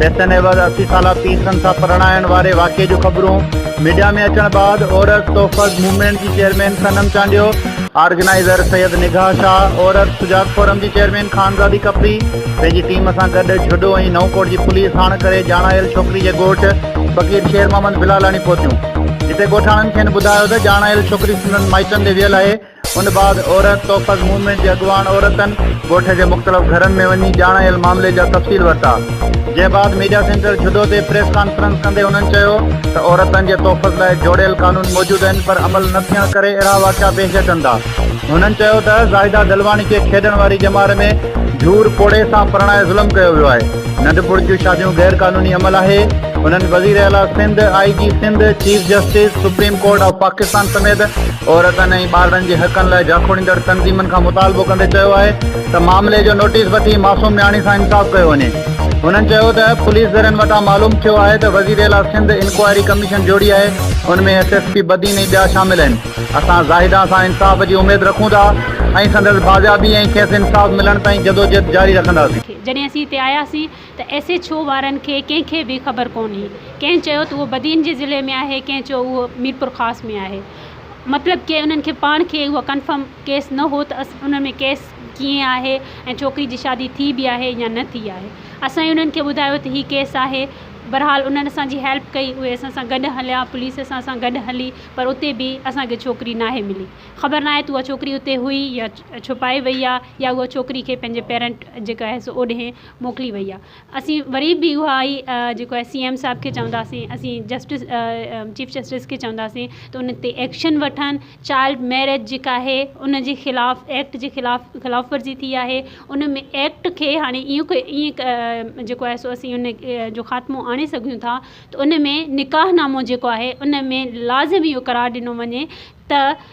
پئسن عيوض اسي سالا پيسن سان پرڻائڻ واري واقعي جون خبرون ميڊيا ۾ اچڻ بعد عورت تحفظ موومينٽ جي chairman Sanam Chandio, organiser Syed Nigah Shah, Aurat Sujag Forum جي چيئرمين خانزادي ڪپري پنهنجي ٽيم سان گڏ جھوڏو ۽ نئون ڪوٽ جي پوليس ساڻ ڪري ڄاڻايل ڇوڪري جي ڳوٺ فقير شير محمد بلالاڻي پهتيون جتي ڳوٺاڻن کين ٻڌايو ته ڄاڻايل ڇوڪري سندن مائٽن ڏي ويل آهي ان بعد عورت توفق موومينٽ جي اڳواڻ عورتن ڳوٺ جي مختلف گهرن ۾ وڃي ڄاڻايل معاملي جا تفصيل ورتا جنهن بعد ميڊيا سينٽر جھدو تي پريس ڪانفرنس ڪندي انهن چيو ته عورتن جي تحفظ لاء جوڙيل قانون موجود آهن پر عمل نه ٿيڻ ڪري اهڙا واقعا پيش اچن ٿا هنن چيو ته زاهده دلواڻي کي کيڏڻ واري ڄمار ۾ جھور پوڙهي سان پرڻائي ظلم ڪيو ويو آهي. ننڍپڻ جون شاديون غير قانوني عمل آهي، هنن وزير اعليٰ Sindh, I G Sindh, chief justice, supreme court of Pakistan سميت عورتن ۽ ٻارڙن جي حقن لاء جاکوڙيندڙ تنظيمن کان مطالبو ڪندي چيو آهي ته معاملي جو نوٽيس وٺي معصوم نياڻي سان انصاف ڪيو وڃي. هنن چيو ته پوليس ذريعن وٽان معلوم ٿيو آهي ته وزير اعليٰ سنڌ انڪوائري ڪميشن جوڙي آهي، ان ۾ ايس ايس پي بدين ۽ ٻيا شامل آهن، اسان زاهده سان انصاف جي اميد رکون ٿا ۽ سندس بازيابي ۽ کيس انصاف ملڻ تائين جدوجهد جاري رکنداسين. جڏهن اسين هتي آياسين ته ايس ايڇ او وارن کي ڪنهن کي به خبر ڪونهي. ڪنهن چيو ته اهو بدين جي ضلعي ۾ آهي ڪنهن چيو اهو ميرپورخاص ۾ آهي. مطلب ڪي انهن کي پاڻ کي اهو ڪنفرم ڪيس نه هو ته انهن ۾ ڪيس ڪيئن آهي ۽ ڇوڪري جي شادي ٿي به آهي يا نه ٿي آهي. اسان ئي انهن کي ٻڌايو ته هي ڪيس آهي. بهرحال انهن اسان جي هيلپ ڪئي اهي اسان سان گڏ هليا پوليس اسان سان گڏ هلي پر اتي به اسان کي ڇوڪري ناهي ملي. خبر ناهي ته اها ڇوڪري اتي هئي يا ڇپائي وئي آ. يا اها ڇوڪري کي پنهنجي پيرنٽ جيڪو آهي سو اوڏهين موڪلي وئي آهي اسين وري به اها ئي جيڪو آهي سي ايم صاحب کي چونداسين اسين جسٽس چيف جسٽس کي چونداسين ته ان تي ايڪشن وٺن چائلڊ ميريج جيڪا آهي ان جي خلاف ايڪٽ جي خلاف خلاف ورزي ٿي آهي ان ۾ ايڪٽ کي هاڻي ايئن ايئن جيڪو آهي سو اسين ان جو خاتمو آڻي سگهون ٿا ته ان ۾ نڪاح نامو جيڪو آهي ان ۾ لازمي اهو قرار ڏنو وڃي ته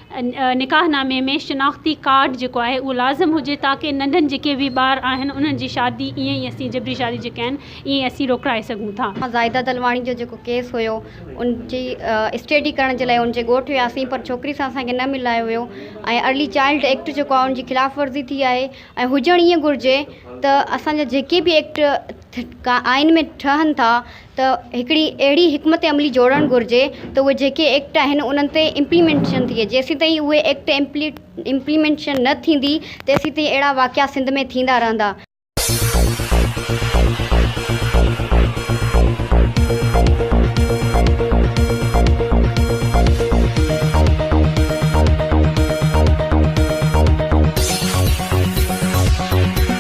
نڪاح نامي ۾ شناختي ڪارڊ جيڪو آهي اهو لازم هجي تاڪه ننڍن جيڪي به ٻار آهن انهن جي شادي ائين ئي اسين جبري شادي جيڪي آهن ائين ئي اسين روڪرائي سگهون ٿا. مان زاهده دلواڻي جو جيڪو ڪيس هيو ان جي اسٽيڊي ڪرڻ جي لاء ان جي ڳوٺ وياسين پر ڇوڪري سان اسان کي نه ملايو ويو ۽ ارلي چائلڊ ايڪٽ جيڪو آهي ان جي خلاف ورزي ٿي آهي ۽ هجڻ ائين گهرجي ته اسان جا جيڪي به ايڪٽ ٺٽڪا آئين ۾ ٺهن ٿا ته هڪڙي اهڙي حڪمت عملي جوڙڻ گهرجي ته اهي جيڪي ايڪٽ آهن انهن تي امپليمينٽيشن ٿئي جيسين تائين اهي ايڪٽ امپليمينٽيشن نه ٿيندي تيسين تائين اهڙا واقعا سنڌ ۾ ٿيندا رهندا.